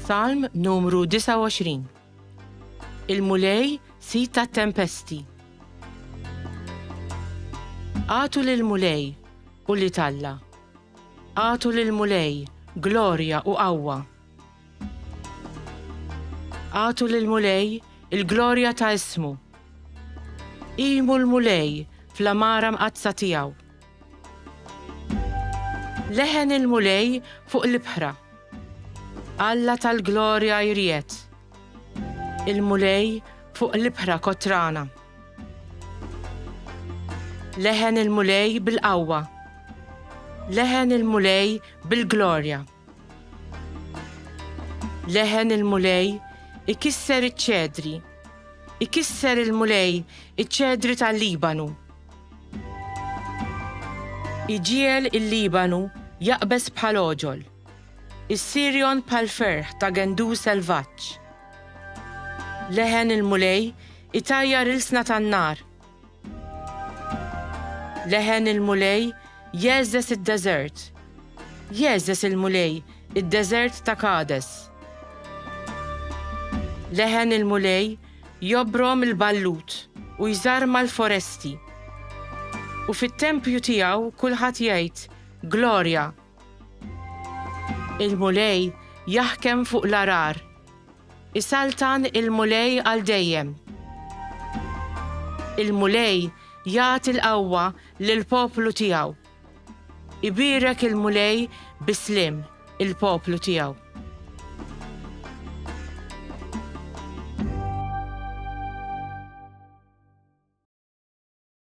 Salm numru 29 Il-Mulej sit tat-tempesti. Għatu lil Mulej u li talla. Għatu lil Mulej glorja u qawwa. Għatu lil Mulej il-glorja ta' ismu. Imu l-Mulej fl-amara mqaddsa tiegħu. Leħen il-Mulej fuq l-ibħra. Alla tal-glorja jried. Il-Mulej fuq l-ibħra kotrana. Leħen il-Mulej bil-qawwa. Leħen il-Mulej bil-glorja. Leħen il-Mulej ikisser iċ-ċedri, ikisser il-Mulej iċ-ċedri tal-Libanu. Iġiel il-Libanu jaqbeż bħal oġol, is-Sirjon bħal ferħ ta' gendu selvaġġ. Leħen il-Mulej itajjar ilsna tan-nar, Leħen il-Mulej jegħżeż id-deżert. Jegħżeż il-Mulej id-deżert ta' Kades. Leħen il-Mulej jobrom il-ballut u jżarma l-foresti. U fit-tempju tiegħu kulħadd jgħid, Glorja, Il-Mulej jaħkem fuq l-għarar. Isaltan il-Mulej għal dejjem. Il-Mulej jagħti l-qawwa lill-poplu tiegħu. Ibierek il-Mulej bi sliem il-poplu tiegħu.